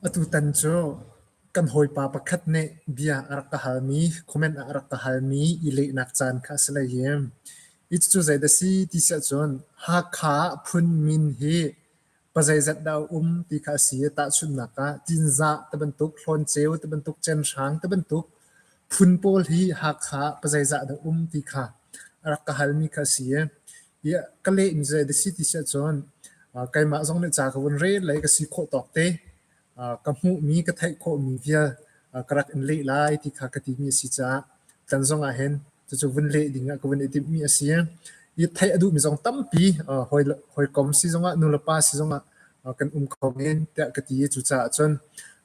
Atutan cu kan hawipa pakhat nih bia a rak ka halmi, comment ah a rak ka halmi i lehnak caan kha a si hlei i, hi cucu zei dah si ti si ahcun Hakha phun min hi pazeizat dah a um ti kha a si i, tahchunhnak ah Tinzah ti bantuk, Hlawnceu ti bantuk, Cenhrang ti bantuk phun pawl hi Hakha pazeizah dah um ti kha a rak ka halmi kha a si i, Yeah, ka lehmi zei da si ti si ahcun uh, keimah zong nih ca ka vun rel lai ka si khawh tawk te uh, ka hmuhmi ka theih khawhmi vial uh, ka rak in leh lai ti kha ka timi a si caah tlan zong ah hin cucu vun leh ding ah ka vun i timhmi a si i theih a duhmi zong tampi uh, hawi hawikom si zong ah nule pa si zong ah uh, kan um kho men tiah ka ti i cucaah cun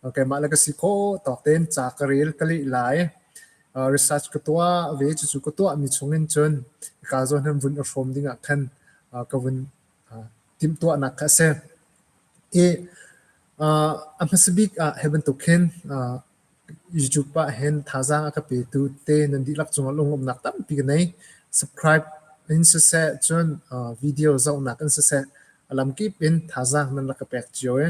uh, keimah le ka si khawh tawk ten ca ka rel ka leh lai research ka tuah ve. Cucu ka tuahmi chungin cun ka zawn hin vun i hrawm dingah khan ka vun timhtuahnak kha a si. I a hmasa bik ah hi bantuk hin YouTube ah hin thazaang a ka petu te nan dihlak cungah lungawmnak tampi ka nei. Subscribe in siseh, cun video zohnak in siseh, A lamkip in thazaang nan rak ka pek cio i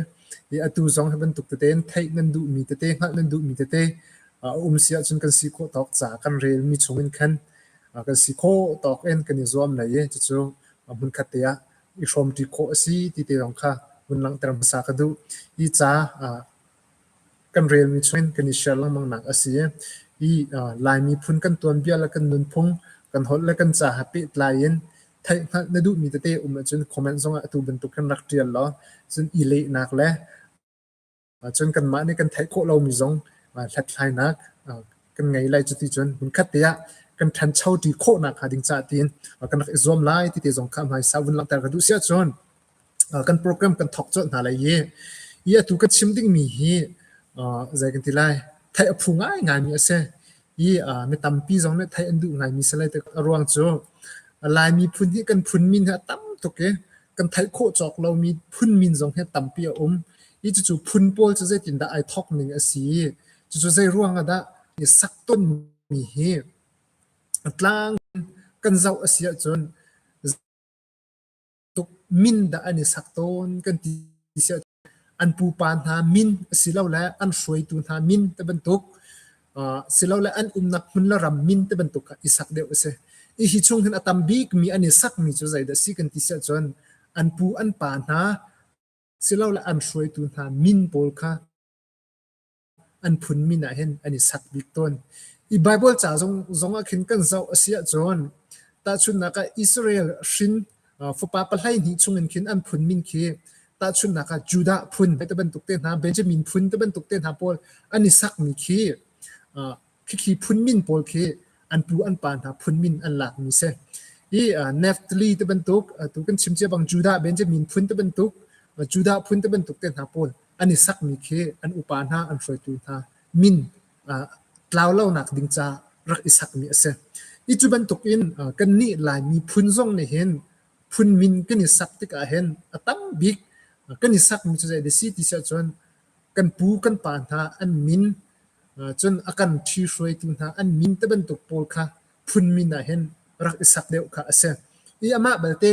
i atu zong hi bantuk tete in theih nan duhmi tete hngalh nan duhmi tete a um si ahcun kan si khawh tawk ca kan relmi chungin khan kan si khawh tawk in kan i zuam lai i cucu hmunkhat te ah i hrawmṭi khawh a si ti te zong kha vun langhter hmasa ka duh. Hi ca kan relmi chungin kan i share lengmangnak a si i Lai miphun kan tuanbia le kan nunphung kan holh le kan ca ha pehtlai in theihhngalh na duhmi tete um ahcun comment zongah atu bantuk hin rak ṭial law cun i lehnak le cun kanmah nih kan theih khawh lomi zong hlathlainak kan ngei lai cuti cun hmunkhat te ah kan ṭhancho ṭi khawh nakhnga ding caah tiin kan rak i zuam lai ti te zong kha hmaisa vun langhter ka duh si ahcun kan program kan thawk colh hna lai i i atu ka chim dingmi hi zei kan ti lai theih a phu ngaingaimi a si i mi tampi zong nih theih an duh ngaimi si lai a ruang cu Laimi phun hi kan phun min hi a tam tuk i kan theih khawh cawk lomi phun min zong hi tampi a um i cucu phun pawl cu zeitindah ai thawk ning a si i cucu zei ruang ah dah i sak tonmi hi tlang kan zoh a si ahcun tuk min dah an i sak tawn kan ti siah an pupa hna min asilole an hruaitu hna min te bantuk uh, silole an umnak hmun le ram min te bantuk kha i sak deuh a si i hi chung hin a tam bik mi an i sak mi cu zeidah si kan ti siah cun an pu an pa hna silole an hruaitu hna min pawl kha an phun min ah hin an i sak bik tawn. I Bible ca zong zongah khin kan zoh a si ahcun tahchunhnak ah Israel hrin fapa pahlei hnih chungin khin an phun min khi tahchunhnak ah Judah phun te bantuk te hna Benjamin phun te bantuk te hna pawl an i sakmi khi Khithli phun min pawl khi an pu an pa hna phun min an lakmi si. I Neftali te bantuk tu kan chim cia bang Judah Benjamin phun te bantuk Judah phun te bantuk te hna pawl an i sakmi khi an upa hna an hruaitu hna min tlau lonak ding ca rak i sakmi a si. Hi cu bantuk in kannih Laimi phun zong nih hin phun min kan i sak tikah hin a tam bik kan i sakmi cu zei a si ti si ahcun kan pu kan pa hna an min cun a kan ṭhi hruaitu hna an min ti bantuk pawl kha phun min ah hin rak i sak deuh kha a si. I amah balte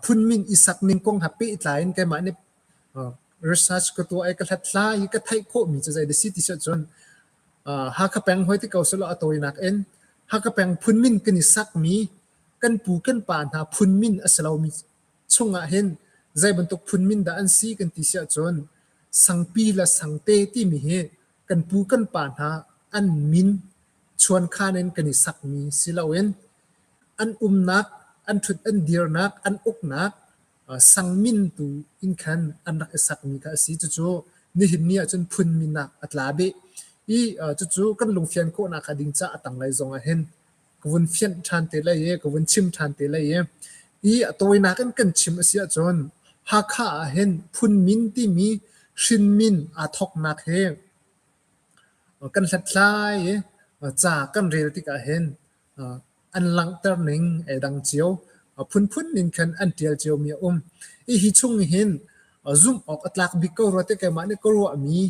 phun min i sak ning kong ha pehtlai in keimah nih research ka tuah i ka hlathlai i ka theih khawhmi cu zei dah si ti si ahcun Hakha peng hoi ti ko selaw a tawinak in Hakha peng phun min kan i sakmi kan pu kan pa hna phun min a si lomi Chungah hin zei bantuk phun min dah an si kan ti si ahcun sangpi le sangte timi hi kan pu kan pa hna an min chuankhan in kan i sakmi si loin an umnak, an ṭhut an dirnak, an uknak sang min tu in khan an rak i sakmi kha a si. Cucu nihin ni ahcun phun min ah a tla beh i cucu kan lungfian khawhnak hnga ding ca a tanglei zongah hin ka vun fianh ṭhan te lai i ka vun chim ṭhan te lai i i a tawinak in kan chim a si ahcun Hakha ah hin phunmin timi hrinmin aa thawknak hi kan hlathlai i ca kan rel tikah hin an langhter ning ai dang cio phunphun in khan an ṭial ciomi a um. Hi hi chung hin zumh awk a tlak bik ko rua te keimah nih ka ruahmi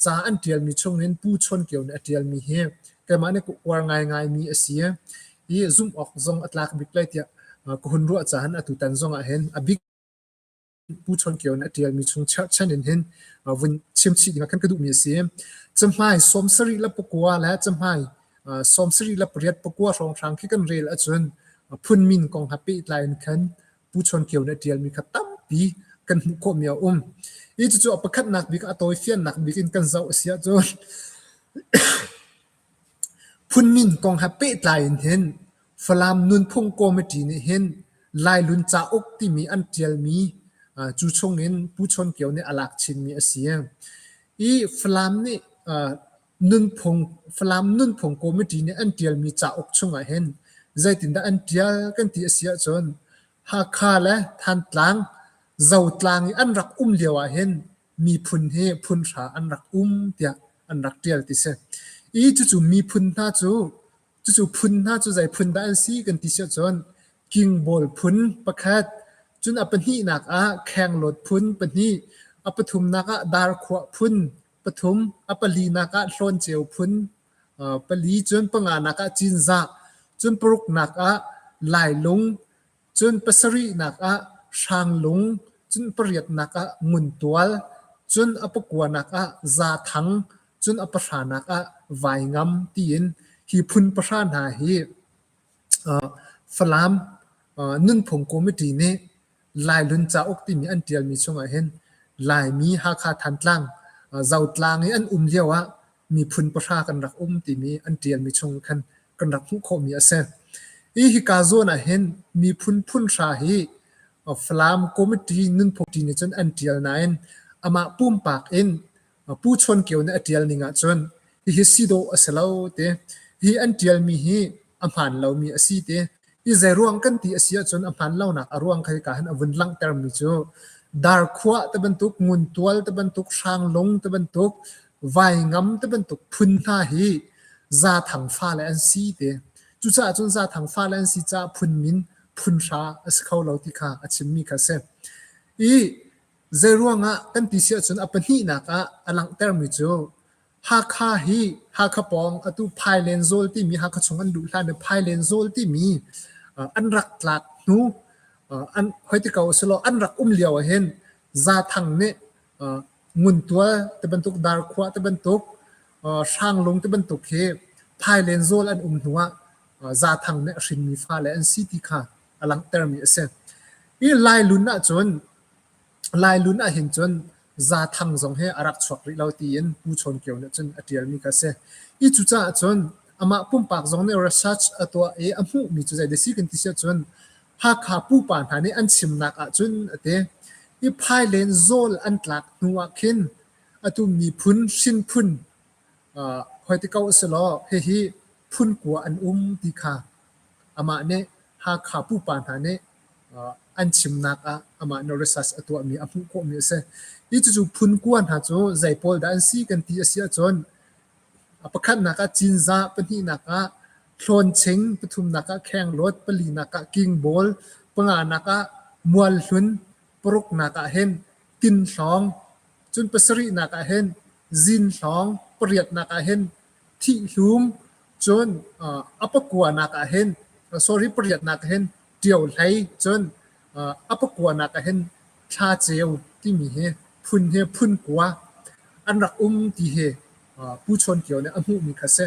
ca an ṭialmi chungin Pu Chawn Kio nih a ṭialmi hi keimah nih ka uar ngaingaimi a si i zumh awk zong a tlak bik lai tiah ka hun ruah caan atutan zongah hin a bik Pu Chawn Kio nih a ṭialmi chung cherhchan in hin vun chimchih ding kan ka duhmi a si. Cahmai sawm sarih le pakua le cahmai sawm sarih le pariat pakua hrawnghrang khi kan rel ahcun phun min kong ha pehtlai in khan Pu Chuan Kio nih a ṭialmi kha tampi kan hmuh khawhmi a um i cucu a pakhatnak bik a tawifiannak bik in kan zoh a si ahcun phunmin kong ha pehtlai in hin Falam Nunphung Committee nih hin Lailun cauk timi an ṭialmi cu chung in Pu Chuan Kio nih a lak chinmi a si i Falam nih Falam nunphung committee nih an ṭialmi cauk chungah hin zeitindah an ṭial kan ti a si ahcun Hakha le Thantlang Zotlang i an rak um lio ahhin miphun hi phunhra an rak um tiah an rak ṭial ti si. I cucu miphun hna cu cucu phun hna cu zei phun dah an si kan ti si ahcun Kingbawl phun pakhat, cun a pahnihnak ah Khenglawt phun pahnih, a pathumnak ah Darkhuah phun Pathum, a palinak ah hlawnceu phun, pali cun panganak ah cinzah, cun paruknak ah lailung, cun pasarihnak ah hrang-lung, cun pariatnak ah nguntual, cun a pakuanak ah zaathang, cun a pahranak ah vaingam tiin hi phun pahra hna hi Falam nunphung committee nih Lailun cauk timi an ṭialmi chungah hin Laimi Hakha Thantlang Zotlang i an um lioah miphun pahra kan rak um timi an ṭialmi chung khan kan rak hmuh khawhmi a si. Hi hika zawn ah hin miphun phunhra hi Falam committee nunphung ṭi nih cun an ṭial nain amah pumpak in Pu Chuan Kio nih a ṭial ning ahcun hihi si dawh a si lo ti. Hi an ṭialmi hi a hmaan lomi a si ti. Hi zeiruang kan ti a si ahcun a hmaan lonak a ruang kha hika hin a vun langhtermi cu Darkhua ti bantuk, Nguntual ti bantuk, Hranglung ti bantuk, Vaingam ti bantuk phun hna hi Zathang fale an si ti. Cucaah cun Zathang fale an si caah phun min phun hra a si kho lo ti kha a chimmi kha a si. I Zeiruangah kan ti si ahcun a pahnihnak ah a langhtermi cu Hakha hi Hakha pawng atu Phailenzawl timi Hakha chung an luh hlan i Phailenzawl timi an rak tlak hnu an hoi ti ko selaw an rak um lio ahhin Zaathang nih Nguntual ti bantuk Darkhua ti bantuk Hranglung ti bantuk hi Phailenzawl an um hnu ah Zaathang nih a hrinmi fale an si ti kha a langhtermi a si. Hi Lailun ahcun Lailun ahhin cun Za Thang zong hi a rak chuak rih lo tiin Pu Chawn Kio nih cun a ṭialmi kha a si. Hi cucaah cun amah pumpak zong nih research a tuah i a hmuhmi cu zei dah a si kan ti si ahcun Hakha pupa hna nih an chimnak ahcun a ti i Phailen zawl an tlak hnu ahkhin atu miphun hrinphun hoi ti ko usihlaw hihi phun kua an um ti kha amah nih Hakha pupa hna nih an chimnak ah amah nih research a tuahmi a hmuh khawhmi a si. Hi cucu phun kua hna cu zei pawl dah an si kan ti a si ahcun pakhatnak ah Cinzah, pahnihnak ah Hlawnching, pathumnak ah Khenglawt, palinak ah Kingbawl, panganak ah Mualhlun, paruknak ah hin Tinhlawng, cun pasarihnak ah hin Zinhlawng, pariatnak ah hin Thihhlum, cun a pakuanak ah hin sorry pariatnak ah hin ṭio hlei, cun a pakuanak ah hin thla ceu timi hi phun hi phun kua an rak um ti hi Pu Chawn Kio nih a hmuhmi kha a si.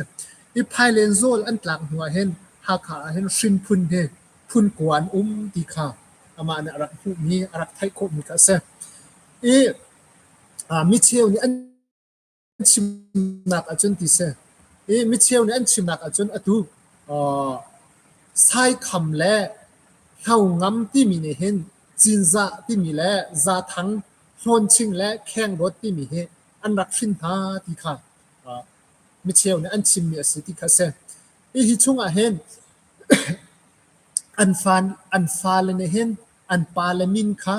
I Phailenzawl an tlak hnu ah hin Hakha ah hin hrinphun hi phun kua an um ti kha amah nih a rak hmuhmi, a rak theih khawhmi kha a si. I micheu nih an an chimnak ahcun ti si i micheu nih an chimnak ahcun atu saitham le hlongam timi nih hin cinzah timi le zathang hlawnching le khengdawt timi hi an rak hrin hna ti kha micheu nih an chimmi a si ti kha si hi chungah hin an fa an fale nih hin an pale min kha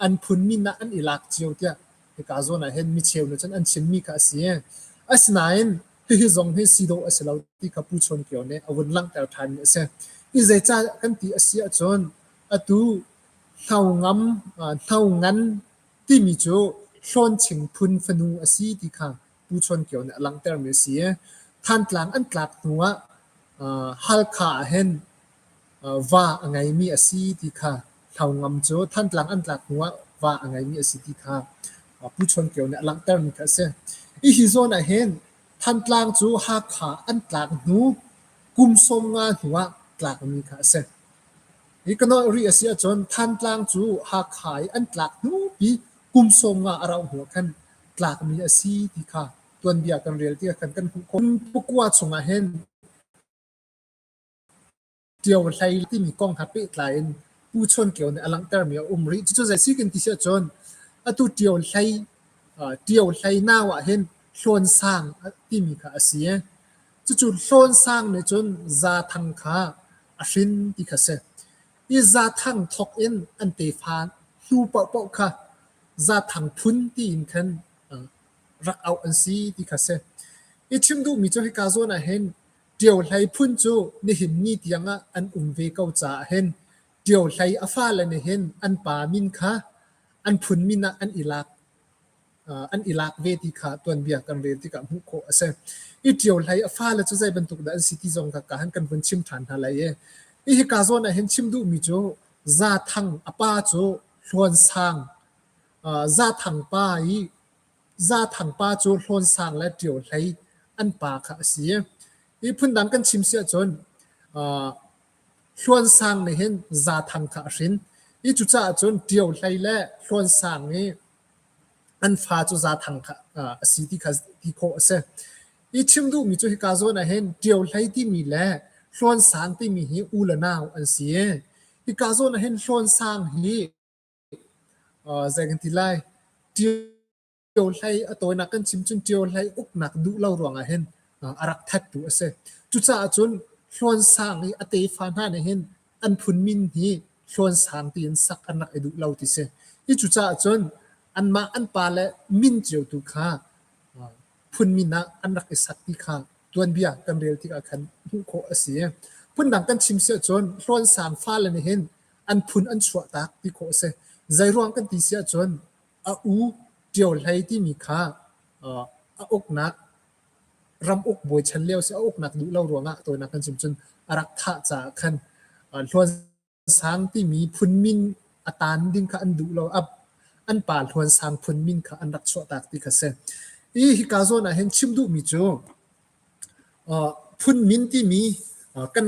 an phun min ah an i lak cio tiah Hika zawn ah hin micheu nih cun an chimmi kha a si. Asinain hihi zong hi si dawh a si lo ti kha Pu Chawn Kio nih a vun langhter ṭhanmi a si. Hi zeicah kan ti a si ahcun atu hno ngam hno ngan timi cu Hlawnching phun fanu a si ti kha Pu Chuan Kio nih a langhtermi a si i Thantlang an tlak hnu ah Halkha ahhin va a ngeimi a si ti kha Hlau Ngam cu Thantlang an tlak hnu ah va a ngeimi a si ti kha Pu Chuan Kio nih a langhtermi kha a si. Hihi zawn ahhin Thantlang cu Hakha an tlak hnu kum sawm nga hnu ah tlakmi kha a si. Hi ka nawlh rih a si ahcun Thantlang cu Hakha i an tlak hnupi kum sawm nga a rauh hnu ah khan tlakmi a si ti kha tuanbia kan rel tikah kan kan hmuh khawh. Pukua chungah hin ṭio hlei timi kong ha pehtlai in Pu Chon Kio nih a langhtermi a um rih. Cucu zei si kan ti siah cun atu ṭio hlei ṭio hlei nau ah hin hlawn sang timi kha a si. Cucu hlawn sang nih cun za thang kha a hrin ti kha si. I zathang thawk in an tefa hnu paohpaoh kha zathang phun tiin khan rak auh an si ti kha si. I chim duhmi cu hika zawn ah hin Ṭio Hlei phun cu nihin ni tiangah an um ve ko caah hin Ṭio Hlei a fale nih hin an pa min kha an phun min ah an i lak. an i lak ve ti kha tuanbia kan rel tikah hmuh khawh a si. I ṭio hlei a fale cu zei bantuk dah an si ti zong kha ka han kan vun chim ṭhan hna lai i hihi ka zawn ah hin chim duhmi cu Za Thang a pa cu Hluan Sang Za Thang pa i Za Thang pa cu Hluan Sang le Ṭio Hlei an pa kha a si. Hi phundang kan chim si ahcun Hluan Sang nih hin Za Thang kha a hrin i cucaah cun Ṭio Hlei le Hluan Sang i an fa cu zaathang a si ti kha ti khawh a si. I chim duhmi cu hika zawn ah hin ṭio hlei timi le hlawn sang timi hi u le nau an si i hika zawn ah hin hlawn sang hi zei kan ti lai ṭio hlei a tawinak kan chim cun ṭio hlei uknak duh lo ruangah hin a rak thattu a si. Cucaah cun hlawn sang i a tefa hna nih hin an phun min hi Hlawnsang tiin sak an rak i duh lo ti si. Hi cucaah cun anmah an pa le min cio tu kha phun min ah an rak i sak ti kha tuanbia kan rel tikah khan hmuh khawh a si. Phundang kan chim si ahcun Hlawnsang fale nih hin an phun an chuah tak ti khawh a si. Zeiruang kan ti si ahcun a u Ṭio Hlei timi kha a uknak ram uk bawi chan lio si a uknak duh lo ruangah tawinak kan chim cun a rak thah caah khan Hluan Sang timi phun min a tan ding kha an duh lo a an pa Hluan Sang phun min kha an rak chuahtak ti kha si i hika zawn ah hin chim duhmi cu phun min timi kan